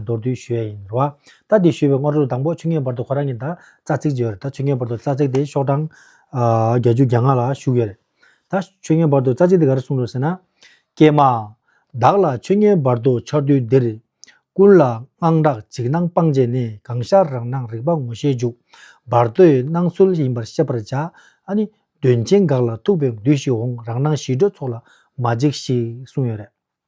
མདོར་བསྡུས་ཞུ་ཡས་ཡིན། རོ། ད་དེ་ཞུས་པའི་སྔོ་རོལ་དང་པོ་ཆུ་ངན་བར་དུ་ཁོ་རང་གི་མདའ་རྩ་ཚིག་བརྗེ་བ་རེད་ད་ཆུ་ངན་བར་དུ་རྩ་ཚིག་དེ་ཤོག་གྲངས། བརྒྱ་ཅུ་གྱ་ལྔ་ལ་བཞུགས་ཡོད་རེད། ད་ཆུ་ངན་བར་དུ་རྩ་ཚིག་དེ་ག་རེ་གསུངས་འདུག་ཟེར་ན། ཀྱེ་མ། བདག་ལ་ཆུ་ངན་བར་དུ་འཆར་དུས་འདིར། ཀུན་ལ་དངངས་སྐྲག་འཇིགས་སྣང་སྤངས་བྱས་ནས་གང་ཤར་རང་སྣང་རིག་པ་ངོ་ཤེས་འཇུག། བར་དོའི་སྣང་ཚུལ་ཡིན་པར་ཤེས་པར་བྱ། ཨ་ནི། དོན་ཆེན་འགགས་ལ་ཐུག་པའི་མདུད་ཞིག་འོང་རང་སྣང་ཞི་ཁྲོའི་ཚོགས་ལ་མ་འཇིགས་ཤིག་གསུངས་ཡོད་རེད།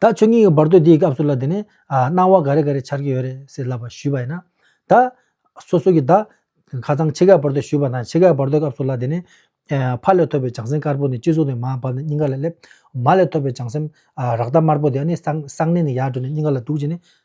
ད་ཆོས་ཉིད་ཀྱི་བར་དོའི་འདིའི་སྐབས་སུ་ལ་དེ་ནས། སྣང་བ་ག་རེ་ག་རེ་འཆར་གྱི་ཡོད་རེད་ཟེར་ལབ་པ་ཞུས་པ་ཡིན་ན། ད། སོ་སོ་གྱི་ད། ཁ་ཚང་ཕྱེད་ཀའི་བར་དོ་ཞུས་པ་དང་ཕྱེད་ཀའི་བར་དོའི་སྐབས་སུ་ལ་དེ་ནས། ཕ་ལས་ཐོབ་པའི་བྱང་སེམས་དཀར་པོ་ནི་སྤྱི་གཙུག་ནས་མར་བབས་ནས་སྙིང་ག་ལ་སླེབས། མ་ལས་ཐོབ་པའི་བྱང་སེམས། རཀྟ་དམར་པོ་དེ་ནི་གསང་གནས་ནས་ཡར་འགྲོ་ནས་སྙིང་ག་ལ་ལྡུག་ཅིང་ནི།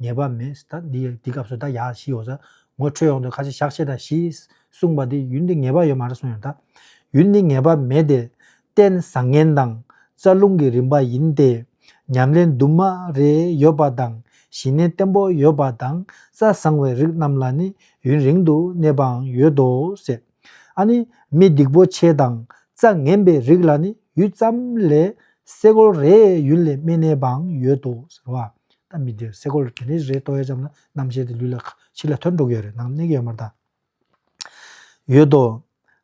ངེས་པ་མེད། ད་འདི་སྐབས་སུ་ད་ཡ་བཞི་ཡོད་ས། ངོ་འཕྲོད་ཡོང་དུས་ཁ་ཆེ་ཞག་ཕྱེད་དང་བཞི། གསུངས་པ་འདི་ཡུལ་འདི་ངེས་པ་ཡོད་མ་རེད་གསུངས་ཡོང་ད། ཡུལ་འདི་ངེས་པ་མེད་དེ། རྟེན་བཟང་ངན་དང། རྩ་རླུང་གི་རིམ་པ་ཡིན་ཏེ། ཉམས་ལེན་དུ་མ་རེ་ཡོད་པ་དང། ཞི་གནས་བརྟན་པོ་ཡོད་པ་དང། རྩ་བཟང་བའི་རིགས་རྣམས་ལ་ནི་ཡུན་རིང་དུ་གནས་པའང་ཡོད་དོ། ཟེར། ཨ་ནི་མི་སྡིག་པོ་ཆེ་དང་རྩ་ངན་པའི་རིགས་ལ་ནི་ཡུད་ཙམ་ལས་སེ་གོལ་རེ་ཡུན་ལས་སྨིན་ནས་པའང་ཡོད་དོ་ཟེར་བ། ད་མི་དེར་སེ་གོལ་དེ་འདྲའི་རེ་གཏོད་ཡ་ཙམ་ན་རྣམ་ཤེས་དེ་ལུས་ལ་ཁ་ཕྱི་ལ་ཐོན་འགྲོ་གི་ཡོད་རེད་ནང་གནས་གི་ཡོད་མ་རེད་ད། ཡོད་དོ།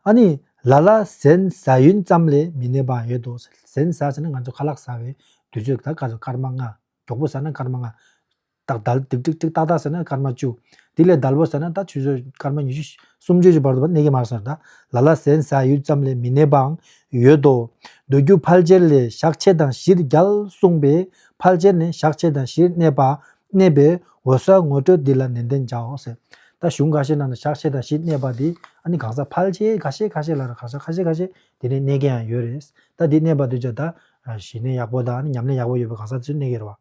ཨ་ནི་ལ་ལ་ཟན་ཟ་ཡུན་ཙམ་ལས་མི་གནས་པའང་ཡོད་དོ་ཟེར། ཟན་ཟ་ཟེར་ན་ང་ཚོ་ཁ་ལག་ཟ་བའི་དུས་ཚོད་ད་ག་ཚོད་སྐར་མ་ལྔ་མགྱོགས་པོ་ཟ་ན་སྐར་མ་ལྔ། ཏག་ཏག་ཏིག་ཏིག་ཏིག་ཏག་ཏག་ཟེར་ན་སྐར་མ་བཅུ། དེ་ལས་དལ་བུ་ཟེར་ན་ད་ཆུ་ཚོད་སྐར་མ་ཉི་ཤུ། སུམ་ཅུ་བཞི་བར་དུ་བ་གནས་ཀྱི་མ་རེད་ཟེར་ན་ད་ལ་ལ་ཟན་ཟ་ཡུལ་ཙམ་ལས་མི་གནས་པའང་ཡོད་དོ། འདོད་རྒྱུ་ཕལ་ཆེར་ལས་ཞག་ཕྱེད་དང་བཞིར་རྒྱལ་གསུངས་པས་ཕལ་ཆེར་ནི་ཞག་ཕྱེད་དང་བཞིར་གནས་པ་གནས་པའི་འོད་གསལ་ངོ་སྤྲོད་འདི་ལ་ནན་ཏན་བྱའོ་ཟེར། ད་གཞུང་འགའ་ཤས་ནང་ན་ཞག་ཕྱེད་དང་བཞིར་གནས་པ་དེ་ཨ་ནི་གང་ཟག་ཕལ་ཆེ་ཁ་ཤས་ཁ་ཤས་ལ་ར་ཁ་ཟག་ཁ་ཤས་ཁ་ཤས་དེ་ནས་གནས་མཁན་ཡང་ཡོད་རེད། ད་དེ་གནས་པ་དུས་ཆ་ད་གཞི་གནས་ཡག་པོ་དང་ཉམས་ལེན་ཡག་པོ་ཡོད་པའི་གང་ཟག་དེ་ཚོས་གནས་ཀྱི་རེད་བ།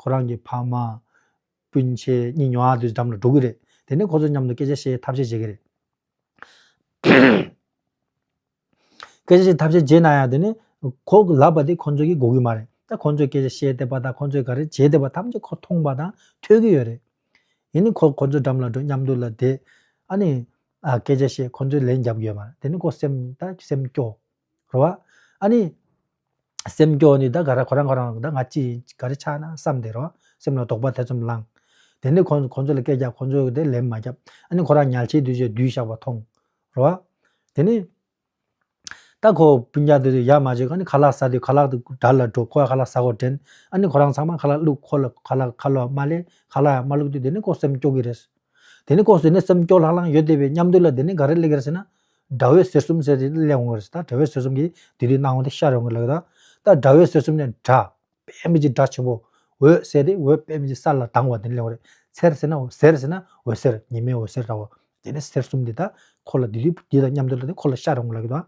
ཁོ་རང་གི་ཕ་མ། སྤུན་མཆེད་གཉིས་ཉོ་ཨ་དུས་འགྲམ་ལ་འགྲོ་གི་རེད། དེ་ནས་ཁོ་ཚོའི་མཉམ་དུ་སྐད་ཆ་བཤད་ཐབས་ཤེས་བྱེད་ཀྱི་རེད། སྐད་ཆ་བཤད་ཐབས་ཤེས་བྱས་ན་ཡང་དེ་ནི། ཁོ་ལབ་པ་དེ་ཁོ་ཚོས་ཀྱིས་དགོས་ཀྱི་མ་རེད། ད་ཁོ་ཚོས་སྐད་ཆ་བཤད་བསྡད་པ་དང་ཁོ་ཚོས་ག་རེ་བྱས་བསྡད་པ་ཐམས་ཅད་ཁོ་མཐོང་པ་དང་ཐོས་ཀྱི་ཡོད་རེད། ཡིན་ནའི་ཁོ་ཁོ་ཚོའི་འགྲམ་ལ་འགྲོ་མཉམ་དུ་ལ་བསྡད། ཨ་ནི། སྐད་ཆ་བཤད་ཁོ་ཚོས་ལན་རྒྱབ་ཀྱི་ཡོད་མ་རེད་དེ་ནི་ཁོ་སེམས་ད་སེམས་སྐྱོ། རེད་བ། ཨ་ནི། སེམས་སྐྱོ་ནི་ད་ག་ར་ཁོ་རང་ཁོ་རང་ད་ང་ཅི་ག་རེ་ཆགས་ན་བསམ་དེ་རོ་སེམས་ལ་དོགས་པ་ཐེ་ཚོམ་བསླང། དེ་ནས་ཁོང་ཁོང་ཚོ་ལ་སྐད་རྒྱག་ཁོང་ཚོ་དེ་ལན་མ་རྒྱབ་ཨ་ནི་ཁོ་རང་ཉལ་ཆས་དུས་ཆས་བསྡུས་བཞག་པ་མཐོང། རོ། དེ་ནས། ད་ཁོ་སྤུན་རྒྱག་དེ་ཡར་མ་བྱེད་ཨ་ནི་ཁ་ལག་ཟ་དེ་ཁ་ལག་དེ་དར་ལ་འགྲོ་ཁོ་ཡང་ཁ་ལག་ཟ་གོ་དྲན་ཨ་ནི་ཁོ་རང་ཚང་མ་ཁ་ལག་བླུག་ཁོ་ལ་ཁ་ལག་ཁ་ལོ་མ་ལེ་ཁ་ལག་ཡང་མ་བླུག་དུས་དེ་ནས་ཁོ་སེམས་སྐྱོ་གི་རེད། དེ་ནས་ཁོ་ཟེར་ནས་སེམས་སྐྱོ་ལྷང་ལྷང་ཡོད་དེ་བས་མཉམ་དུ་ལ་དེ་ནས་ག་རེ་གླེགས་རེད་ཟེར་ན། དགྲ་བོའི་གསེར་གསུམ་ཟེར་ཏེ་གླེང་འོང་བར་སེམས་ད་དགྲ་བོའི་གསེར་གསུམ་གྱིས་དེ་དུས་སྣང་བ་དེ་ཤར་འོང་གི་ལགས་ད། ད་དགྲ་བོའི་གསེར་གསུམ་ནི་དགྲ་དཔལ་མི་འཇིགས་དགྲ་ཆེན་པོ། འོད་གསལ་ཏེ་འོད་དཔལ་མི་འཇིགས་ས་ལ་ལྡང་བ་དེ་ནི་གླེང་བ་རེད། ཚེར་ཟེར་ན་ཟེར་ཟེར་ན་འོད་གསལ་ཉི་མའི་འོད་གསལ་འདྲ་བ། དེ་ནི་གསེར་གསུམ་དེ་ད་ཁོ་ལ་དེ་དུས་དེ་དང་མཉམ་དུ་ལ་དེ་ཁོ་ལ་ཤར་འོང་གི་ལགས་ད།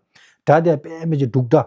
དགྲ་དཔལ་མི་འཇིགས་འབྲུག་དགྲ་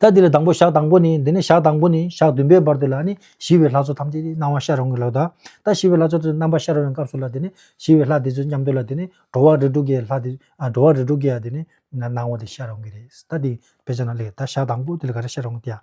ད་འདི་ལ་དང་པོ་ཞག་དང་པོ་ནི་འདི་ནས་ཞག་དང་པོ་ནི་ཞག་བདུན་པའི་བར་དེ་ལ་ནི་ཞི་བའི་ལྷ་ཚོགས་ཐམས་ཅད་ཀྱི་སྣང་བ་ཤར་རུང་གི་ལྷ་དང། ད་ཞི་བའི་ལྷ་ཚོགས་ཚོའི་རྣམ་པ་ཤར་བའི་སྐབས་སུ་ལ་དེ་ནི་ཞི་བའི་ལྷ་དེ་ཚོའི་མཉམ་དུ་ལ་དེ་ནི་འགྲོ་བ་རིས་དྲུག་གི་ལྷ་དེ་འགྲོ་བ་རིས་དྲུག་གི་ཡང་དེ་ནི་སྣང་བ་དེ་ཤར་རུང་གི་རེད། ད་འདི་བེད་སྤྱད་ན་ལེགས་ད་ཞག་དང་པོ་དེ་ལ་ག་རེ་ཤར་རུང་གི་དེ་ཡང།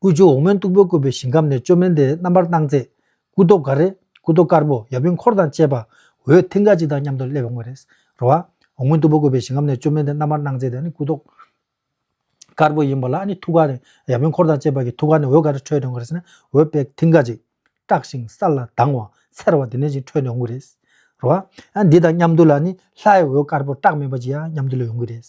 དབུས་ཆུ་འོག་མོན་སྟུག་པོའི་བཀོད་པའི་ཞིང་ཁམས་ནས་ཅོ་མེན་དེའི་རྣམ་པར་སྣང་མཛད། སྐུ་རྡོ་ག་རེ། སྐུ་རྡོ་དཀར་པོ་ཡབ་ཡུམ་འཁོར་དང་བཅས་པ། འོད་མཐིང་ག་གཅིག་དང་མཉམ་དུ་སླེབ་པའི་དངོས། རེད་རོ། འོག་མོན་སྟུག་པོའི་བཀོད་པའི་ཞིང་ཁམས་ནས་ཅོ་མེན་དེའི་རྣམ་པར་སྣང་མཛད་དེ་ནི་སྐུ་རྡོ། དཀར་པོ་ཡིན་པ་ལ་ནི་ཐུགས་ཀ་ནས་ཡབ་ཡུམ་འཁོར་དང་བཅས་པ་གི་ཐུགས་ཀ་ནས་འོད་ག་རེ་འཕྲོས་ཏེ་འོང་བ་རེད། འོད་དཔལ་མཐིང་ག་གཅིག། བཀྲག་ཞིང་སལ་ལ་དྭངས་བ། འཚེར་བ་དེ་ནས་ཅིག་འཕྲོས་ནས་འོང་གི་རེད། རོ། འདི་དང་མཉམ་དུ་ལ་ནི་ལྷའི་འོད་དཀར་པོ་བཀྲག་མེད་པ་ཅིག་ཡང་མཉམ་དུ་ལ་ཡོང་གི་རེད།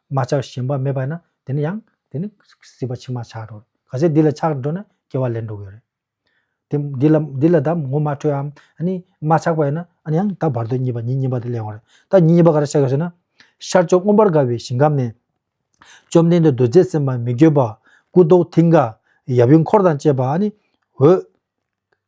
མ་ཆགས་ཞེན་པ་མེད་པ་ཡིན་ན་དེ་ནི་ཡང་དེ་ནི་སྲིད་པ་ཕྱི་མ་ཆགས་འགྲོ། གལ་སྲིད་འདི་ལ་ཆགས་འགྲོ་ན་སྐྱེ་བ་ལེན་འགྲོ་གི་རེད། དེ་འདི་ལ་འདི་ལ་ད་ངོ་མ་འཕྲོད་ཨམ། ཨ་ནི་མ་ཆགས་པ་ཡིན་ན་ཨ་ནི་ཡང་ད་བར་དོའི་གཉིས་པ་ཉིད་གཉིས་པ་དེ་གླེང་བ་རེད། ད་ཉིད་གཉིས་པ་ག་རེ་བྱ་དགོས་ཟེར་ན། ཤར་ཕྱོགས་མངོན་པར་དགའ་བའི་ཞིང་ཁམས་ནས། བཅོམ་ལྡན་འདས་རྡོ་རྗེ་སེམས་དཔའ་མི་བསྐྱོད་པ། སྐུ་མདོག་མཐིང་ག། ཡབ་ཡུམ་འཁོར་དང་བཅས་པ་ཨ་ནི། འོད།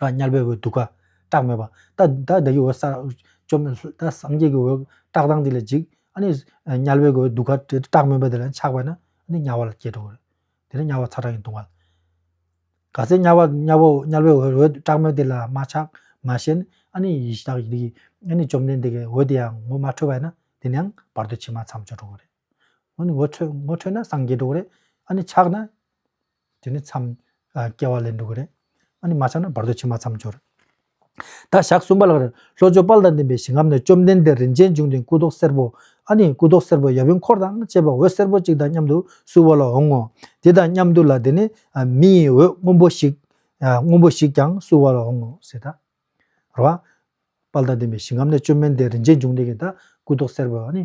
ར་དམྱལ་བའི་འོད་དུ་ཀ། སྐྲག་མེད་པ། ད་ད་ད་ཡི་འོད་གསལ། བཅོམ་ལྡན་འདས་ད་སངས་རྒྱས་ཀྱི་འོད། བཀྲག་མདངས་འདི་ལ་འཇིགས། ཨ་ནི། དམྱལ་བའི་འོད་དུ་ཀ། སྐྲག་མེད་པ་དེ་ལ་ཆགས་པས་ན། འདི་དམྱལ་བ་ལ་སྐྱེས་འགྲོ་བ། དེ་ནས་དམྱལ་བ་ཚ་གྲང་གིས་གདུང་བ། ག་ཚད་དམྱལ་བ་དམྱལ་བ་དམྱལ་བའི་འོད་འོད་སྐྲག་མེད་དེ་ལ་མ་ཆགས། མ་ཞེན། ཨ་ནི་ཡི་དྭགས་ཡི་དྭགས་ཀྱི། ཨ་ནི་བཅོམ་ལྡན་འདས་ཀྱི་འོད་དེ་ཡང་ངོ་མ་འཕྲོད་པས་ན། དེ་ནས་ཡང་བར་དོ་ཕྱི་མ་མཚམས་སྦྱོར་འགྲོ་བ་རེད། ཨོ་ནི་ངོ་འཕྲོད་ངོ་འཕྲོད་ན་སངས་རྒྱས་འགྲོ་གི་རེད་ཨ་ནི་ཆགས་ན་དེ་ནི་མཚམས་སྐྱེ་བ་ལས་འགྲོ་གི་རེད་ཨ་ནི་མ་ཆགས་ན་བར་དོ་ཕྱི་མ་མཚམས་སྦྱོར། ད་ཞག་གསུམ་པ་ལགས་རེད་ལྷོ་ཕྱོགས་དཔལ་དང་ལྡན་པའི་ཞིང་ཁམས་ནས་བཅོམ་ལྡན་འདས་རིན་ཆེན་འབྱུང་ལྡན་སྐུ་མདོག་སེར་པོ་ཨ་ནི་སྐུ་མདོག་སེར་པོ་ཡབ་ཡུམ་འཁོར་དང་བཅས་པ་འོད་སེར་པོ་གཅིག་དང་མཉམ་དུ་བསུ་བ་ལ་འོང་ངོ། དེ་དང་མཉམ་དུ་ལ་དེ་ནི་མི་ཡི་འོད་སྔོན་པོ་ཞིག་སྔོན་པོ་ཞིག་ཀྱང་བསུ་བ་ལ་འོང་ངོ་ཟེར། ད་རེད་དཔལ་དང་ལྡན་པའི་ཞིང་ཁམས་ནས་བཅོམ་ལྡན་འདས་རིན་ཆེན་འབྱུང་ལྡན་གྱི་ད་སྐུ་མདོག་སེར་པོ་ཨ་ནི།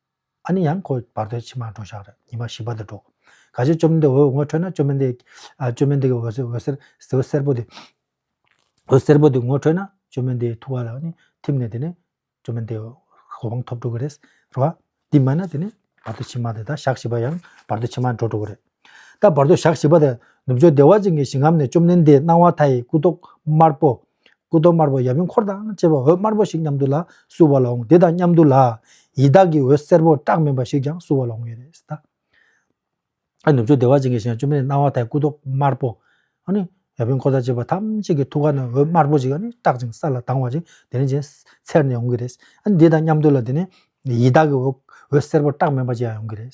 ཨ་ནི་ཡང་ཁོ་བར་དོའི་ཕྱི་མར་འགྲོ་ཞག་རེ་ཉི་མ་བཞི་བ་དེར་འགྲོ། ག་ཞིག་བཅོམ་ལྡན་འདས་འོད་ངོ་འཕྲོད་ན་བཅོམ་ལྡན་འདས་བཅོམ་ལྡན་འདས་ཀྱི་འོད་ཟེར་འོད་སེར་པོ་དེ་འོད་སེར་པོ་དེ་ངོ་འཕྲོད་ན་བཅོམ་ལྡན་འདས་ཐུགས་ཀ་ལ་ནི་ཐིམ་ནས་དེ་ནས་བཅོམ་ལྡན་འདས་གོ་འཕང་ཐོབ་འགྲོ་གི་རེད་རེད་བ། དེ་མ་ན་དེ་ནས་བར་དོའི་ཕྱི་མ་དེ་དང་ཞག་བཞི་པ་ཡང་བར་དོའི་ཕྱི་མར་འགྲོ་འགྲོ་གི་རེད། ད་བར་དོའི་ཞག་བཞི་པ་དེར་ནུབ་ཕྱོགས་བདེ་བ་ཅན་གྱི་ཞིང་ངམ་ནས་བཅོམ་ལྡན་འདས་སྣང་བ་མཐའ་ཡི་སྐུ་མདོག་དམར་པོ། སྐུ་གདུང་དམར་པོ་ཡབ་ཡུམ་འཁོར་དང་བཅས་པ་འོད་དམར་པོ་ཞིག་མཉམ་དུ་ལ་བསུ་བ་ལ་འོང་དེ་དང་མཉམ་དུ་ལ་ཡི་དྭགས་ཀྱི་འོད་སེར་པོ་བཀྲག་མིན་པ་ཞིག་ཀྱང་བསུ་བ་ལ་འོང་ཡོད་རེད་ད། ཨ་ནུབ་ཆོས་བདེ་བ་ཅན་གྱི་ཞིང་བཅོམ་ལྡན་སྣང་བ་དང་སྐུ་གདུང་དམར་པོ། ཨཱ་ནི། ཡབ་ཡུམ་འཁོར་དང་བཅས་པ་ཐམས་ཅད་ཀྱི་ཐུགས་ཀ་ནས་འོད་དམར་པོ་ཞིག་ཨཱ་ནི་བཀྲག་ཅིང་ས་ལ་ལྡང་བ་ཞིག་དེ་རིང་ཅན་འཚེར་ནས་ཡོང་གི་རེད། ཨཱ་ནི་དེ་དང་མཉམ་དུ་ལ་དེ་ནས་ཡི་དྭགས་ཀྱི་འོད་སེར་པོ་བཀྲག་མིན་པ་ཅིག་ཡང་ཡོང་གི་རེད།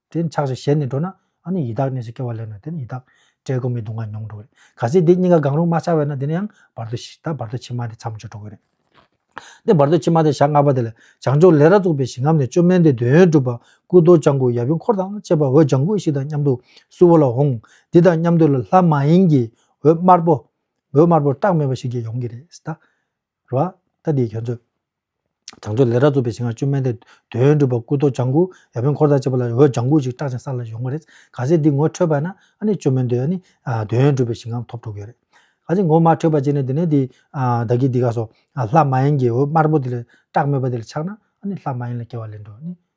དེ་འཆག་ཅིང་ཞེད་ནས་འགྲོ་ན། ཨ་ནི་ཡི་དྭགས་གནས་སུ་སྐྱེ་བ་ལེན་ནོ་དེ་ནི་ཡི་དྭགས། བཀྲེས་སྐོམ་མི་གདུང་བ་མྱོང་འགྲོ་བས། ག་ཚིག་འདི་གཉིས་ཀ་གང་རུང་མ་ཆགས་པས་ན་དེ་ནི་ཡང་བར་དོ་བཞི་དང་བར་དོ་ཕྱི་མ་དེ་མཚམས་སྦྱོར་འགྲོ་གི་རེད། དེ་བར་དོ་ཕྱི་མ་དེ་ཞག་ལྔ་པ་དེ་ལ་བྱང་ཕྱོགས་ལས་ར་བཙུགས་པའི་ཞིང་ཁམས་ནས་བཅོས་མའི་འདོད་དོན་སྒྲུབ་པ་སྐུ་རྡོ་ལྕགས་མགུལ་ཡབ་ཡུམ་འཁོར་དང་བཅས་པ་འོད་ལྗང་ཁུ་ཞིག་དང་མཉམ་དུ་སུ་བོ་ལ་འོང། འདི་དང་མཉམ་དུ་ལ་ལྷ་མ་ཡིན་གྱི་འོད་དམར་པོ། འོད་དམར་པོ་བཀྲག་མེད་པ་ཞིག་ཀྱང་ཡོང་གི་རེད། ར་བ། ལྟ་འདིའི་ཁྱོད་ཚོས། བྱང་ཕྱོགས་ལས་ར་རྩུབ་པའི་ཞིང་ལ་བཅོས་མེད་དེ། དོན་སྒྲུབ་པ་སྐུ་རྡོ་ལྗང་གུ་ཡབ་ཡུམ་འཁོར་དང་བཅས་པ་ལ་འོད་ལྗང་གུ་ཞིག་སྐྲག་ཅིང་ས་ལ་ཡོང་བ་རེད། ག་ཚད་འདི་ངོ་འཕྲོད་པ་ན་ཨ་ནི་བཅོས་མེད་དེ། དོན་སྒྲུབ་པའི་ཞིང་ཁམས་ཐོབ་འགྲོ་གི་རེད། ག་ཚད་ངོ་མ་འཕྲོད་པ་ཅིག་ན་དེ་ནས་དེ། བདག་གིས་འདི་ག་སོ། ལྷ་མ་ཡིན་གྱི་འོད་དམར་པོ་དེ་ལ་སྐྲག་མེད་པ་དེ་ལ་ཆགས་ན་ཨ་ནི་ལྷ་མ་ཡིན་ལ་སྐྱེ་བ་ལེན་འགྲོ།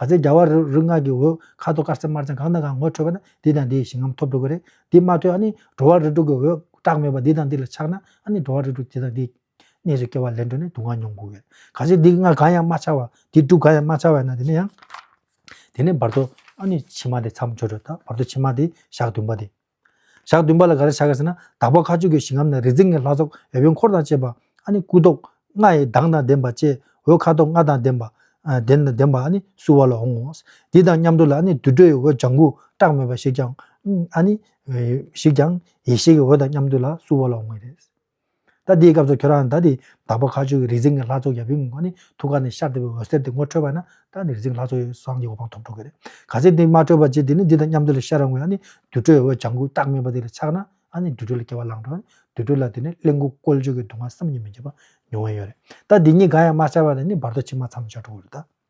ག་ཚད་རྒྱ་བ་རུ་སྔགས་ཀྱི་འོད་ཁ་དོག་དཀར་སེར་དམར་ཚང་གང་དང་གང་ངོ་འཕྲོད་པ་ན་འདི་དང་འདིའི་ཞིང་ཁམས་ཐོབ་འགྲོ་གི་རེད་འདི་མ་ཐོས་ཨ་ནི་འགྲོ་བ་རི་དྲུག་གི་འོད་བཀྲག་མེད་པ་འདི་དང་འདི་ལ་ཆགས་ན་ཨ་ནི་འགྲོ་བ་རི་དྲུག་དེ་དང་དེའི་གནས་སུ་སྐྱེ་བ་ལེན་འགྲོ་ནས་དུག་ལྔ་མྱོང་དགོས་གལ། ག་ཚད་འདི་ལྔ་གང་ཡང་མ་ཆགས་བ་འདི་དྲུག་གང་ཡང་མ་ཆགས་བས་ན་དེ་ནི་ཡང། དེ་ནས་བར་དོ་ཨ་ནི་ཕྱི་མ་དེ་མཚམས་སྦྱོར་བྲལ་དང་བར་དོ་ཕྱི་མ་དེ་ཞག་བདུན་པ་དེ། ཞག་བདུན་པ་ལ་ག་རེ་བྱ་དགོས་ཟེར་ན་དྭགས་པོ་ཁ་ཆུ་གའི་ཞིང་ཁམས་ན་རིག་འཛིན་ལྔའི་ལྷ་ཚོགས་འོད་བོན་འཁོར་དང་བཅས་པ། ཨ་ནི་སྐུ་ཐོག་ལྔ་ཡི་གདངས་དང་ལྡན་པ་བཅས་འོད་ཁ་དོག་ལྔ་དང་ལྡན་པ། དེ་དང་ལྡན་པ་ཨ་ནི་བསུ་བ་ལ་འོང་ངོ། འདི་དང་མཉམ་དུ་ལ་ཨ་ནི་དུར་ཁྲོད་ཡི་འོད་ལྗང་གུ་བཀྲག་མོད་པ་ཞིག་ཀྱང། ཨ་ནི། ཞིག་ཀྱང། ཡེ་ཤེས་ཀྱི་འོད་དང་མཉམ་དུ་ལ་བསུ་བ་ལ་འོང་བས་རེད། ད་འདིའི་སྐབས་སུ་ཁྱོད་རང་ད་དེ་བདག་པོ་ཁ་ཆུ་གི་རིག་འཛིན་གྱི་ལྷ་ཚོགས་ཡབ་ཡུམ་གྱི་སྔོན་ནི་ཐུགས་ཀ་ནས་ཤར་བདེ་བའི་འོད་ཟེར་དེ་ངོ་འཕྲོད་པ་ན་ད་ནི་རིག་འཛིན་གྱི་ལྷ་ཚོགས་ཡོད་སངས་རྒྱས་གོ་འཕང་ཐོབ་འགྲོ་གི་རེད། ག་ཚད་འདི་མ་འཕྲོད་པ་ཅི་དེ་ནི་འདི་དང་མཉམ་དུ་ལ་ཤར་རང་ངོ་ནི་དུར་ཁྲོད་འོད་ལྗང་གུ་རྟགས་མེད་པ་དེ་ལ་ཆགས་ན་ཨ་ནི་དུར་ཁྲོད་ལ་སྐྱེ་བ་བླངས་འགྲོ་དུར་ཁྲོད་ལ་དེ་ནས་གླིང་དགུ་བཀོལ་སྤྱོད་ཀྱི་སྡུག་བསྔལ་བསམ་གྱིས་མི་ཁྱབ་པ་མྱོང་བས་ཡོད་རེད་ད་འདི་གཉིས་གང་ཡང་མ་ཤར་བ་ལ་ནི་བར་དོ་ཕྱི་མ་མཚམས་སྦྱར་འགྲོ་གི་རེད་ད།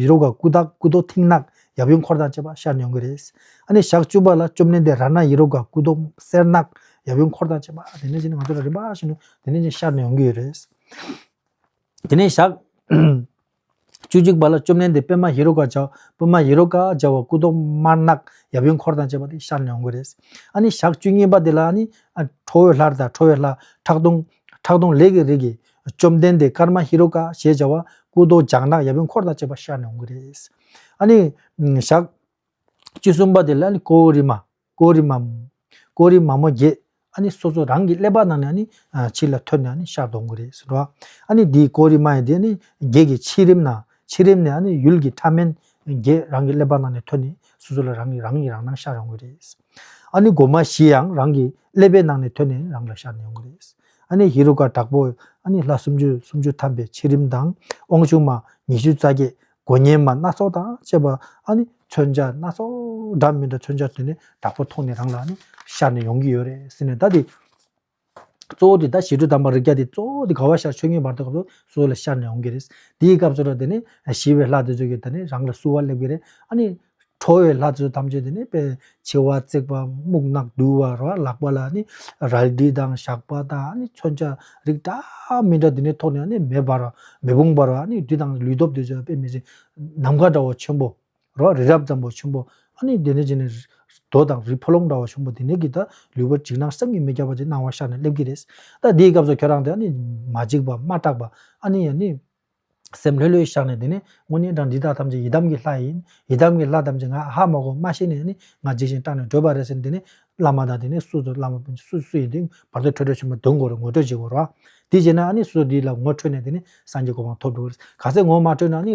ཡི་རོ་ག་སྐུ་དག་སྐུ་རྡོ་མཐིང་ནག་ཡབ་ཡུམ་འཁོར་དང་བཅས་པ་ཤར་ཉོན་གྱི་རེད། ཨ་ནི་ཞག་བཅུ་པ་ལ་བཅོམ་ལྡན་འདས་ར་ན་ཡི་རོ་ག་སྐུ་རྡོ་སེར་ནག་ཡབ་ཡུམ་འཁོར་དང་བཅས་པ་དེ་ནས་ཀྱིས་ང་ཚོ་ལ་རིམ་པ་བཞིན་དུ་དེ་ནས་ཀྱིས་ཤར་ཉོན་གྱི་རེད། དེ་ནས་ཞག་བཅུ་གཅིག་པ་ལ་བཅོམ་ལྡན་འདས་པདྨ་ཡི་རོ་ག་འཇའ་པདྨ་ཡི་རོ་ག་འཇའ་བ་སྐུ་རྡོ་དམར་ནག་ཡབ་ཡུམ་འཁོར་དང་བཅས་པ་དེ་ཤར་ཉོན་གྱི་རེད། ཨ་ནི་ཞག་བཅུ་གཉིས་པ་དེ་ལ་ནི། ཁྲོ་བོའི་ལྷར་དང་ཁྲོ་བའི་ལྷ་ཁྲག་འཐུང་ཁྲག་འཐུང་ལས་ཀྱི་རིགས་ཀྱི་བཅོམ་ལྡན་འདས་ཀརྨ་ཧེ་རུ་ཀ་ཞེས་བྱ་བ་སྐུ་མདོག་ལྗང་ནག་ཡབ་ཡུམ་འཁོར་དང་བཅས་པ་ཤར་ནས་འོང་གི་རེད། ཨཱ་ནི། ཞག། བཅུ་གསུམ་པ་དེ་ལ་ནི་ཀོའུ་རི་མ། ཀོའུ་རི་མ། ཀོའུ་རི་མ་མོ་བརྒྱད། ཨཱ་ནི་སོ་སོ་རང་གི་ཀླད་པ་ནང་ནས་ཨཱ་ནི། ཕྱིར་ལ་ཐོན་ནས་ཨཱ་ནི་ཤར་དུ་འོང་གི་རེད། ཨཱ་ནི་དེའི་ཀོའུ་རི་མ་ཡི་དེ་ནི་བརྒྱད་ཀྱི་ཕྱི་རིམ་ན། ཕྱི་རིམ་ནས་ཨཱ་ནི་ཡུལ་གྱི་ཕྲ་མེན། བརྒྱད་རང་གི་ཀླད་པ་ནང་ནས་ཐོན་ནས་སོ་སོ་ལ་རང་གི་རང་གི་རང་སྣང་ཤར་འོང་གི་རེད། ཨ་ནི་སྒོ་མ་བཞི་ཡང་རང་གི་ཀླད་པའི་ནང་ནས་ཐོན་ནས་རང་ལ་ཤར་ནས་ཡོང་གི་རེད། ཨ་ནི་ཧེ་རུ་ཀ་དྲག་པོ། ཨ་ནི་ལྷ་སུམ་ཅུ་སུམ་ཅུ་ཐམ་པའི་ཕྱི་རིམ་དང་དབང་ཕྱུག་མ་ཉི་ཤུ་རྩ་བརྒྱད། མགོ་བརྙན་མ་སྣ་ཚོགས་དང་བཅས་པ། ཨ་ནི་མཚོན་ཆ་སྣ་ཚོགས་འདྲ་མི་འདྲ་མཚོན་ཆ་དེ་ནས་དྲག་པོ་མཐོང་ནས་རང་ལ་ནི་ཤར་ནས་ཡོང་གི་ཡོད་རེད་ཟེར་ནས་ད་དེ། གཙོ་བོ་དེ་ད་ཞི་ཁྲོ་དམ་པ་རིགས་བརྒྱ་དེ་གཙོ་བོ་དེ་ག་བ་ཤར་ཆོས་ཉིད་བར་དོའི་སྐབས་སུ་གསོལ་ལ་ཤར་ནས་འོང་གི་རེད། དེའི་སྐབས་སུ་རོ་དེ་ནི་ཞི་བའི་ལྷ་དེ་ཚོས་ཀྱི་ད་ནི་རང་ལ་བསུ་བ་སླེབས་གི་རེད། ཨ་ནི། ཁྲོ་བའི་ལྷ་དེ་ཚོ་ཐམས་ཅད་དེ་ནི་དཔེ། མཆེ་བ་གཙིགས་པ་སྨུག་ནག་དུལ་བ་རོ་ལག་པ་ལ་ནི་རལ་གྲི་དང་ཞགས་པ་དང་ཨ་ནི་མཚོན་ཆ་རིགས་འདྲ་མི་འདྲ་དེ་ནི་ཐོགས་ནས་ཨ་ནི་མེ་འབར་བ་མེ་དཔུང་འབར་བ་ཨ་ནི་བདུད་དང་ལུས་སྟོབས་དེ་ཚོས་དཔེ་མི་སྲིད། ནམ་མཁའ་འདྲ་བ་ཆེན་པོ། རོ། རི་རབ་འཛམ་བུ་ཆེན་པོ། ཨ་ནི་དེ་ནས་རྗེས་ནས། རྡོ་དང་རི་ཕོ་ལོང་འདྲ་བ་ཆུང་པོ་དེ་ནས་ཀྱིས་ད་ལུས་པོ་འཇིགས་སྣང་སེམས་ཉིད་མི་རྒྱ་བ་དེ་སྣང་བ་ཤར་ནས་སླེབས་ཀྱི་རེད། ད་དེའི་སྐབས་སུ་ཁྱོད་རང་དེ་ཨ་ནི། མ་འཇིགས་པ་མ་སྐྲག་པ། ཨ་ནི་ཡ་ནི། སེམས་ལྷོད་ལྷོད་བཞག་ནས་དེ་ནས་དངོས་གནས་དྲང་འདི་དག་ཐམས་ཅད་ཡི་དམ་གྱི་ལྷ་ཡིན། ཡི་དམ་གྱི་ལྷ་ཐམས་ཅད་ང་ཨ་ཧ་མ་གོ་མ་ཤེས་ནས་ཨ་ནི་ང་འཇིགས་ཤིང་སྐྲག་ནས་བྲོས་པ་རེད་ཟེར་ནས་དེ་ནས། བླ་མ་དང་དེ་ནས་སུ་དང་བླ་མ་སྤུན་མཆེད་སུ་སུ་ཡིན་དེ་བར་དོ་ཁྲོད་ཁྲོད་ཆེན་པོ་བདུན་གོ་རེ་ངོ་སྤྲོད་བྱེད་དགོས་རོ། དེ་བྱས་ན་ཨ་ནི་སུ་དེ་ལ་ངོ་འཕྲོད་ནས་དེ་ནས་སངས་རྒྱས་གོ་འཕང་ཐོབ་འགྲོ་གི་རེད། ག་ཚད་ངོ་མ་འཕྲོད་ན་ཨ་ནི།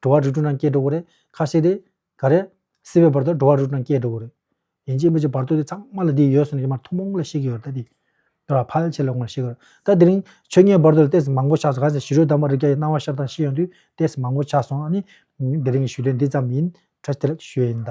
འགྲོ་བ་རིགས་དྲུག་རྣམས་སྐྱེ་འགྲོ་བ་རེ་ཁ་ཤས་དེ་ག་རེ། སྲིད་པའི་བར་དུ་འགྲོ་བ་རིགས་དྲུག་རྣམས་སྐྱེ་འགྲོ་བ་རེ། ཡིན་གཅིག་མིན་གཅིག་བར་དོ་དེ་ཚང་མ་ལ་དེ་ཡོད་སོང་ནས་ཀྱི་མར་ཐུན་མོང་ལ་ཤེས་ཀྱི་ཡོད་རེད་ད་དེ། འདོད་ལ་ཕལ་ཆེར་ལོག་མར་ཤེས་ཀྱི་རེད། ད་དེ་རིང་ཆོས་ཉན་བར་དོ་ལ་ལྟས་མང་པོ་ཆགས་སོང་གང་ཟེར་ཞི་རོལ་དམ་པ་རིགས་བརྒྱ་ཡི་སྣང་བ་ཤར་དང་ཤེས་ཡོང་དུས་ལྟས་མང་པོ་ཆགས་སོང་ཨ་ནི། དེ་རིང་གི་ཞུ་དོན་འདི་ཙམ་ཡིན། ཁྲ་ཆེ་ལགས་ཞུས་ཡིན་ད།